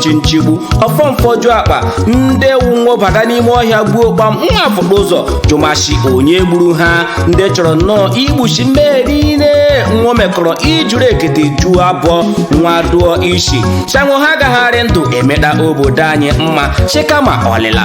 chi nchigbu ọfọ mfọju akpa ndị wụ nwo baga n'ime ọhịa gbuo kpam nwa afụkpa ụzọ jụma shi onye gburu ha ndị chọrọ nnọọ igbuchi mmehie niile nwo mekọrọ ijuru ekete juo abọ nwa dụọ isi shi anwụ ha gagharị ndụ emeda obodo anyị mma chikama ọlịla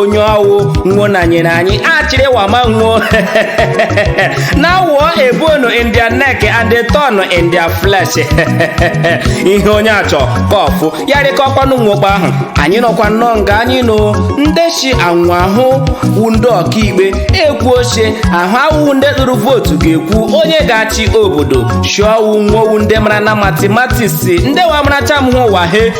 onye ọwụ nwo na nyere anyị achịrị wama nwo na wụọ a bone in their neck and a thorn in their flesh ihe onye achọ kọfụ ya rịkọkwanụ nwo kpa ahụ anyị nọkwa nnọọ nga anyị nọ ndị shi anwụ ahụ wu ndị ọkaikpe ekwuo shi ahụ awụ ndị tụrụ vootu ga-ekwu onye ga-achị obodo shi ọwụ nwo wu ndị mara na matimatiks ndị wa maracha m hụ ụwa he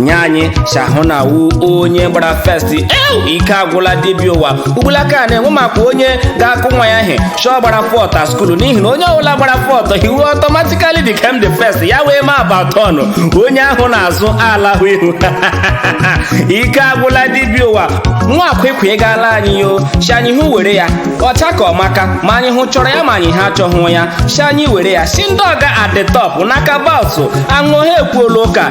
nye anyị shi ahụ na wu onye gbara first ew ike agwụla dibịa ụwa ugbulaka a na-enwe maka onye ga-akụ nwa ya ihe shi ọ gbara fourth a skulu n'ihi na onye ọbụla gbara fourth he will automatically become the first ya wee ma about turn onye ahụ n'azụ ala hụ ihu ike agwụla dibịa ụwa nwa akwekwe ị gaala anyị ya shi anyị hụ were ya ọcha ka ọmaka ma anyị hụ chọrọ ya ma anyị ha achọghị ya shi anyị were ya shi ndị ọga at the top na kabals anwụ ha ekwuola ụka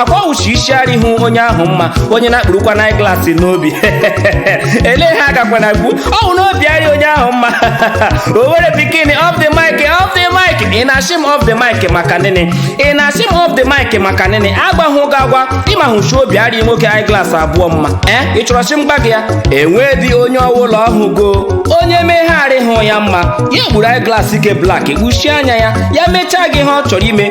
akwa wu shi isi arịhụ onye ahụ mma onye na-ekpurukwanụ eyeglass n'obi ele ha agakwa na gbu ọwụ n'obi arị onye ahụ mma owerri pikin off the mic off the mic ị na-asị m off the mic maka nịnị ị na-asị m off the mic maka nịnị agwahụ gị agwa ị mahụ shi obi arị nwoke eyeglass abụọ mma ee ị chọrọ shi m gwa gị ya enwedị onye ọwụla ọhụgo onye mee ihe arịhụ ya mma ya ekpuru eyeglass ike black kpuchie anya ya ya mechaa gị ihe ọ chọrọ ime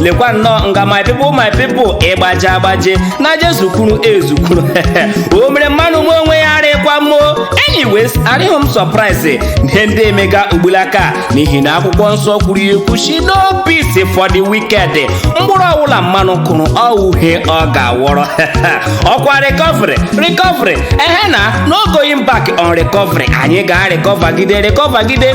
lekwa nnọọ nga my people my people ịgbaje agbaje na-eje ezukwuru ezukwuru o mere mmanụ mee onwe ya arịkwa mma oo anyways arịhụ m surprise ihe ndị emega ugbulaka n'ihi na akwụkwọ nsọ kwuru ya ekwu shi no peace for the wicked mkpụrụ ọwụla mmanụ kụrụ ọwụ ihe ọ ga-awọrọ ọkwa recovery recovery ehe na no going back on recovery anyị ga-arịkọvagide rịkọvagide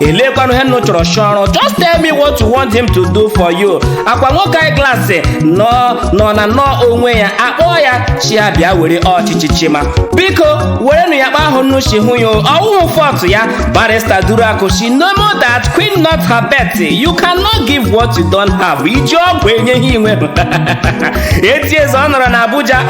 elekwanụ ihe nụ chọrọ shi ọ rụ just tell me what you want him to do for you akwa nwoke eyeglass nọ nọ na nọ onwe ya akpọọ ya shi ya bịa were ọchịchị chịma biko werenụ ya kpa ahụ nụ shi hụ ya ọwụhụ fault ya barista duruakụ shi nemo dat quod non habet you cannot give what you don't have i ji ọgwụ enye ihe i nwe etieze ọ nọrọ na abuja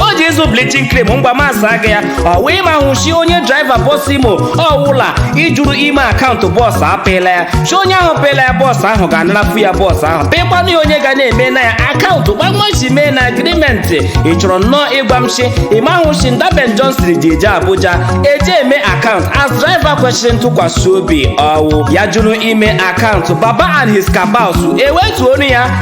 o ji ịzụ bleaching cream ngwa masa gị ya ọ wụ ị mahụ shi onye draiva bọs imo ọwụla jụrụ ime akaụntụ bọọsụ apịla ya shi onye ahụ pịla ya bọọsụ ahụ ga-anarafụ ya bọọsụ ahụ pịkwanụ ya onye ga na-eme na ya akaụntụ kpa nwo shi mee na agrimenti ị chọrọ nnọọ ịgwa m shi ị mahụ shi nda ben johnson ji eje abuja eje eme akaụntụ as draiva kwesịrị ntụkwasị obi ọwụ ya jụrụ ime akaụntụ baba and his kabals ewetuonụ ya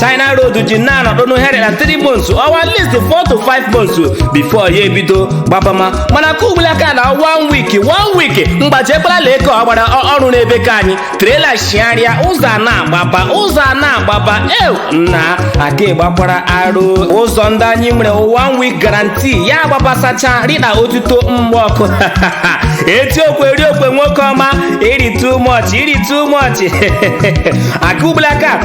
china road ji na-anọdụ nhe rị la 3 months or at least 4 to 5 months before ya ebido gbabama mana ke ugbula aka na one week one week mgbaji ekwela lee ka ọ gbara ọ- ọrụ n'ebe ka anyị trailer shigharịa ụzọ a na-agbaba ụzọ a na-agbaba ew nna aka ịgbakwara arụ ụzọ ndị anyị nwere one week guarantee ya agbabasacha rịda otuto mgbe ọkụ eziokwu eziokwu nwoke ọma ị rị too much ị rị too much aka ugbula aka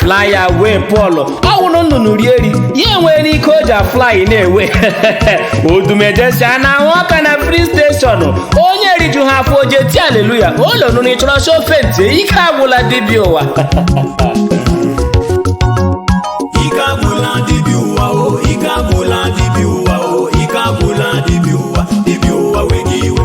fly away paul ọ wụrụ nnụnụ rie eri ya enwee ike o ji afly na-ewe odumeje sị anaa ahụ ọka na filling station onye riju ha afọ o ji eti aleluya ụlọ nụrụ ịchọrọ shofe nti ike agwụla dibịa ụwa ike agwụla dibịa ụwa o ike agwụla dibịa ụwa o ike agwụla dibịa ụwa dibịa ụwa wega iwe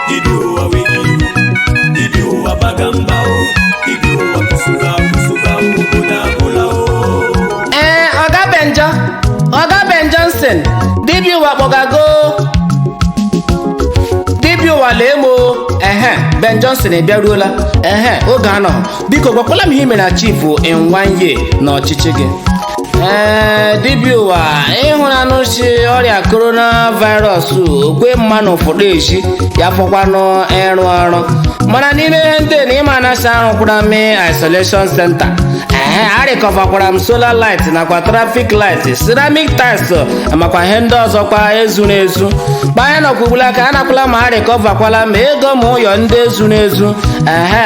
dibịa ụwa wega iwe dibịa ụwa baga mba o dibịa ụwa kusuka kusuka obodo agwụla o ee ọga benjọ ọga ben johnson dibịa ụwa kpọga gị dibịa ụwa lee m o ehe ben johnson ebịaruola ehe ọga nnọọ biko gwakwala m ihe i mere achieve in one year n'ọchịchị gị ee dibịa ụwa ị hụna nụ sị ọrịa corona virus o kwe mmanụ fụta ezi ya fọkwanụ ịrụ ọrụ mana n'ime ihe ndị na ịma anasị arụkwara m isolation center ee a recoverkwara m solar light nakwa traffic light ceramic tiles ma kwa ihe ndị ọzọkwa ezuru ezu kpa anyị nọkwa ugbula ka anakwala m a recoverkwala m ego ma ụyọ ndị ezuru ezu ehe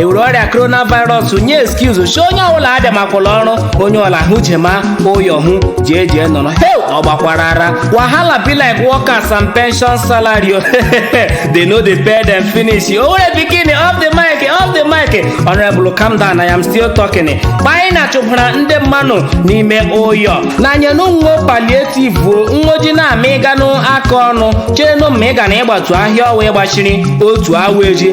e were ọrịa coronavirus nye excuse sị onye ọbụla abịamakwala ọrụ onye ọla hụ jema ụyọ hụ jee jee nọrọ heu ọ gbakwara ara wahala be like workers and pension salary o. they no dey pay them finish owerri pikin off the mic off the mic honorable calm down i am still talking kpanyị na chụbara ndị mmanụ n'ime ụyọ na nyenu nwo palliative o nwo ji na-ama ịganụ aka ọnụ chee nụ ma ị ga na ịgbatu ahịa ọwa ịgbachiri otu awa ji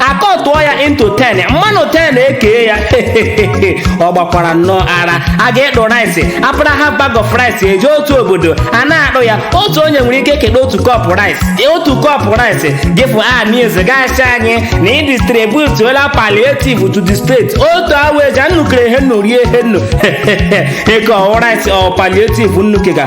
a cutụọ ya into 10 mmanụ 10 ekee ya ọ gbakwara nnọọ ara a ga-ekpo rice apara ha bag of rice eje otu obodo a na-akpụ ya otu onye nwere ike keta otu cup rice otu cup rice gịfụ amis gaasị anyị na ị distributuola palliative to the state otu awa ji a nnu kere ihe nnu rie ihe nnu kee ọ wụ rice ọ palliative nnu kega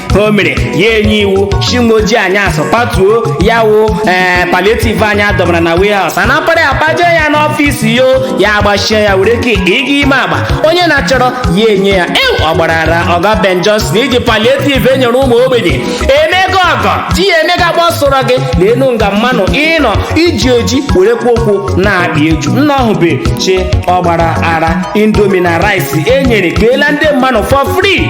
o mere ya enye iwu shi nwo ji anyasụ patuo ya wụ ee palietiv anyị adọmara na warehouse a napara ya paje ya n'ọfịs yo ya agbachie ya were ke ịga ime agba onye na-achọrọ ya enye ya ew ọ gbara ara ọga ben johnson iji palietiv enyere ụmụ ogbenye emega ọgọ ji ya emega agba ọ sọrọ gị leenu nga mmanụ ịnọ iji eji were kwụ ụkwụ na-akpa eju nna ọhụbe chi ọ gbara ara indomi na rice enyere keela ndị mmanụ for free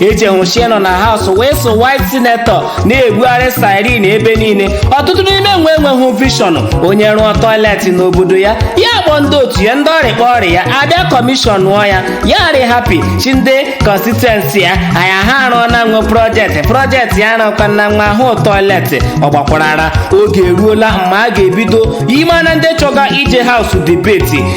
eji hụ shi e nọ na haus wee so white senetọ na-ebugharị siren ebe niile ọtụtụ n'ime nwo enweghị vishọn onye rụọ tọiletị n'obodo ya ya kpọọ ndị otu ya ndị ọrịa kpọọ ọrịa ya abịa kọmishọnụọ ya ya arị hapi shi ndị kọnstituensi ya anya ha arụọna nwo projektị projektị ya arụkwa na nwa ahụ tọiletị ọ gbakwara ara oge eruola mgbe a ga-ebido ime na ndị chọga ije haus debeti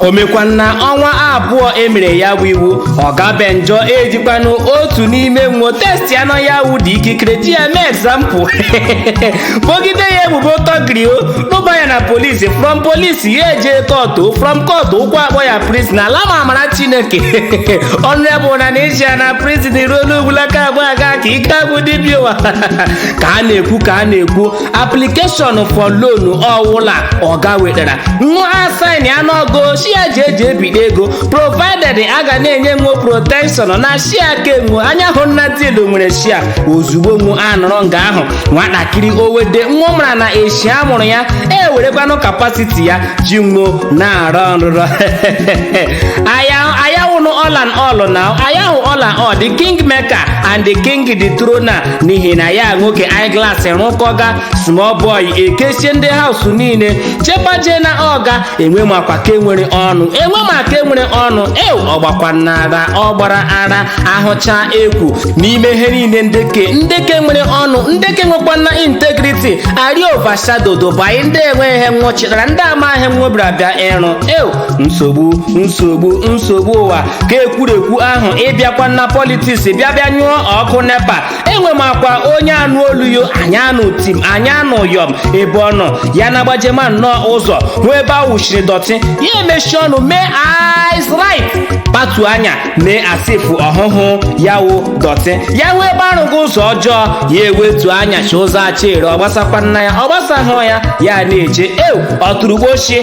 o mekwanụ na ọnwa abụọ emere ya bụ iwu ọga benjọ ejikwanụ otu n'ime nwo testi anọ ya wụ dị ikikere ji ya mee egzampụ bogide ya ebubo tọgrio rụba ya na polisi from polisi ya eje kọtụ from kọtụ ụkwụ akpọ ya prizin ala ma amara chineke honourable na n'esia na prizin ruo n'ugbulaka abụọ aga ka ike agwụ dibịa ụwa ka a na-ekwu ka a na-ekwu application for loan ọwụla ọga wetara nwo asaịn ya n'ọgo shia ji eji ebite ego provided a ga na-enye nwo protection na shia ke nwo anya hụ na diilụ nwere shia ozugbo nwo anọrọ nga ahụ nwatakịrị owede nwo mara na eshi a mụrụ ya ewerekwanụ kapasiti ya ji nwo na-arọ nrụrọ aya wụnụ all and all na aya wụ all and all the king maker and the king the throne n'ihi na ya nwoke eyeglass rụkọga small boy ekesie ndị haus niile chepaje na ọga enwe makwa ke nwere ọnụ enwe ma ke nwere ọnụ ew ọ gbakwana ara ọ gbara ara ahụcha ekwu n'ime ihe niile nde ke nde ke nwere ọnụ nde ke nwekwana integrity arị overshadowed by ndị enweghị ihe nwo chitara ndị amaghị ihe nwo bịara bịa ịrụ ew nsogbu nsogbu nsogbu ụwa ke ekwurekwu ahụ ịbịakwa na politiks bịa bịa nyụọ ọkụ nepa enwe makwa onye anụ olu yo anyị anụ tim anyị anụ yọm ebe ọ nọ ya na-agbajema nnọọ ụzọ hụ ebe a wụshiri dọtị ya emechi ọnụ mee eyes right kpatu anya mee as if ọ hụhụ ya wụ dọtị ya hụ ebe arụghị ụzọ ọjọọ ya ewetu anya shi ụzọ achịrị ọ gbasakwana ya ọ gbasahụ ya ya na-eje ew ọtụrụgbochie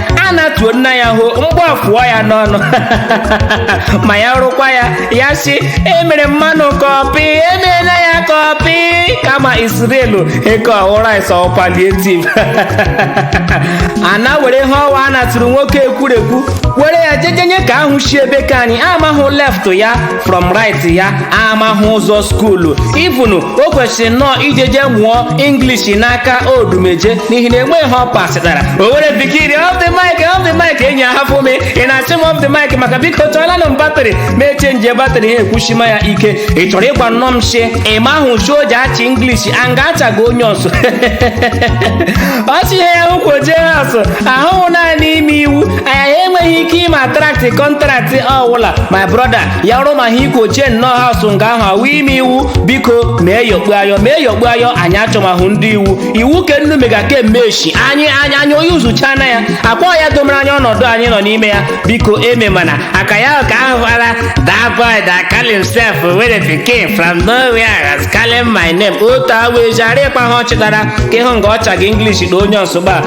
a na-atuo nna ya hụ mgbe afụọ ya n'ọnụ ma ya rụkwa ya ya si emere mmanụ kọpị emeela ya kọpị kama isrelu ke ọ wụ rice ọ palietiv a na-were ihe ọwa a na-atụrụ nwoke ekwurekwu were ya jejenye ka ahụ shi ebe ka anyị amahụ left ya from right ya amahụ ụzọ skuulu even o kwesịrị nnọọ ijeje mụọ english n'aka odumeje n'ihi na enweghị ihe ọ pasịtara owerri pikin off the mic off the mic enyi ahafụ m ị na-achị m off the mic maka biko chọọlanụ m batrị ma echenji batrị ha ekwushima ya ike ị chọrọ ịgwa nnọọ m shi ị mahụ shi o ji achị english anga achaga onye ọsụ ọchị ihe ya hụkwoje asụ ahụhụ naanị ime iwu anyị enweghị ike ime attract contract ọwụla my brother ya rụma ha ikwochie nnọọ house nga ahụ awụ ime iwu biko mee yokpu ayọ mee yokpu ayọ anyị achọmahụ ndị iwu iwu ke nnu mega ke meshi anyị onye uzucha na ya akpọ ya domere anyị ọnọdụ anyị nọ n'ime ya biko eme mana aka ya ka ahụ fara that boy that call himself owerri pikin from nowhere has calling my name otu awa eji arịkwa ihe ọ chịtara ka ịhụ nga ọ chaga english na onye ọsụgba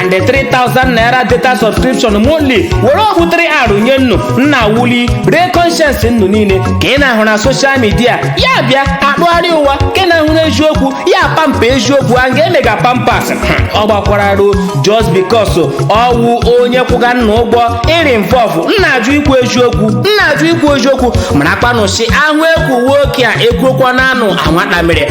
and the 3000 naira data subscription monthly were obutere arụ nye nnu nna wuli ree conscience nnu niile ka ị na-ahụ na social media ya bịa akpụgharị ụwa ke ị na-ahụ n'eziokwu ya pamper eziokwu anga emega pampers ọ gbakwara arụ o just because ọwụ onye kwụga nna ụgwọ iri mvọvụ nna ajụ ikwu eziokwu nna ajụ ikwu eziokwu marakwanụ shi ahụ ekwu nwoke a ekwuokwa na anụ anwata mere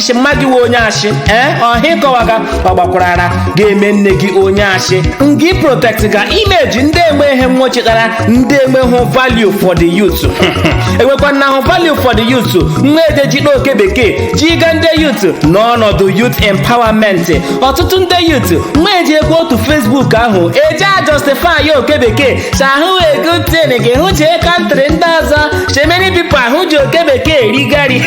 ashị mma gị wee onye ashị ee ọha ịkọwaga ọ gbakwara ara ga-eme nne gị onye ashị nga ị protect ga image ndị enwe ihe nwọ chịtara ndị enwehụ value for the youth enwekwanahụ value for the youth nwa eje ji n'oke bekee jiga ndị youth n'ọnọdụ youth empowerment ọtụtụ ndị youth nwa eji ekwe otu facebook ahụ eji a justify ya oke bekee shi awụ a good thing gị hụ chee country ndị ọzọ So many people ahụ ji oke bekee eri gari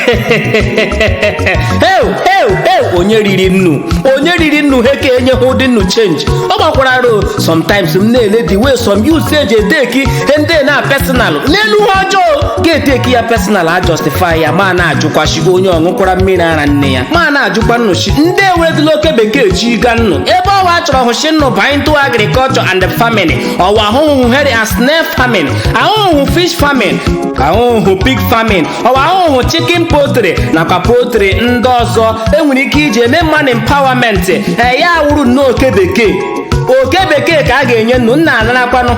heu heu heu onye riri nnu onye riri nnu ha ka enyeghị ụdị nnu change ọ gbakwara arụ sometimes m na-ele the way some youths eji eteki ihe ndị na personal n'elu ha ọjọọ ga-eteki ya personal a justify ya ma na-ajụkwa shi onye ọ ṅụkwara mmiri ara nne ya ma na-ajụkwa nnu shi ndị eweredịla oke bekee jiga nnu ebe ọwa chọrọ hụ shi nnu ba into agriculture and farming ọwa ahụhụ here as snail farming ahụhụ fish farming ahụhụ pig farming ọwa ahụhụ chicken poultry nakwa poultry ndị ọzọ enwere ike iji emema nnu empowerment ee ya awụrụ nnọọ oke bekee oke bekee ka a ga-enye nnu nna anarakwanụ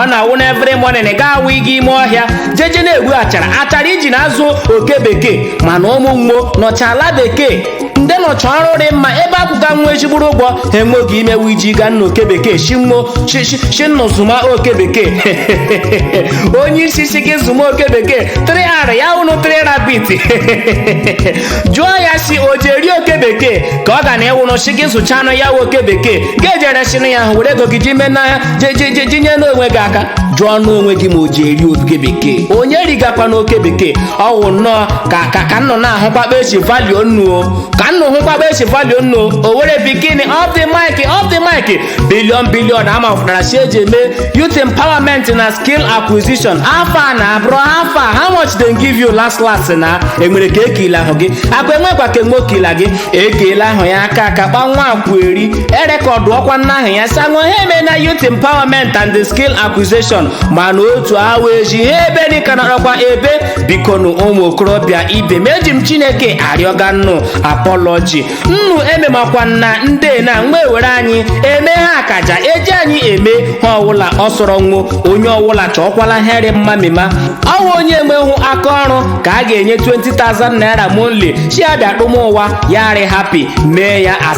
ọ na-awụ na every morning ga-awụ ịga ime ọhịa jeje na-egbu achara achara iji na-azụ oke bekee mana ụmụ nwọ nọcha ala bekee ndị nọcha ọrụ dị mma ebe a kwụga nwo ezigbo ụgwọ ha enwe oge imewu iji ga nna oke bekee shi nwo shi nnụ zụma oke bekee onye isi si gị zụma oke bekee 3R ya wụnụ 3 rabbit jụọ ya si o ji eri oke bekee ka ọ ga na ịwụnụ si gị zụcha anụ ya oke bekee ga-ejere sinụ ya ahụ were ego gị ji mee n'ahịa jejejejinye n'onwe gị aka jụọ n'onwe gị ma o ji eri oke bekee onye rigakwa n'oke bekee ọ wụ nnọọ ka ka ka nnụ na-ahụkwa kpa e si value nnụ o ka nnụ hụkwa kpa e si value nnụ o o were bikonụ off the mic off the mic billion billion a mafụtara si eji eme youth empowerment na skill acquisition afa nna bro afa how much dem give you last last na enwere ka ekele ahụ gị aka enwekwa ka enwe okila gị ekele ahụ ya aka aka kpa nwa akwụ eri erekọdụ ọkwa nna ahụ ya sị nwo ha eme na youth empowerment and the skill acquisition mana otu awa eji ha ebe dịka nọrọkwa ebe biko nụ ụmụ okorobịa ibe m eji m chineke arịọga nnụ apology nnụ ememakwa nna ndị na mgbe were anyị eme ihe akaja eji anyị eme ihe ọwụla ọ sọrọ nwo onye ọwụla chọọkwala ihe rị mma mema ọ wụ onye enweghị aka ọrụ ka a ga-enye 20,000 naira monthly shi abịa kpụm ụwa ya rị happy mee ya as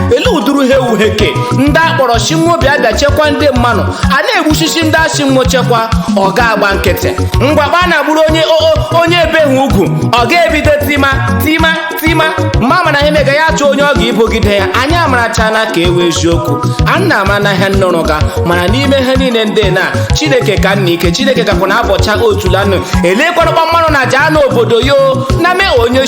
ele uduru ha ewu heke ndị a kpọrọ shi nwo bịa bịa chekwa ndị mmanụ a na-egbushishi ndị a shi nwo chekwa ọ ga-agba nkịtị ngwa kpa a na-agburu onye o- o- onye ebe ha ugwu ọ ga-ebido tima tima tima mma mana ihe mega ya chọọ onye ọ ga-ebogide ya anyị amarachana ka ewe eziokwu a na ama na ihe nnụrụ ga mana n'ime ihe niile ndị na chineke ka nna ike chineke gakwa na abọcha otulanụ elekwarụ kpa mmanụ na jaa n'obodo yo na mee onye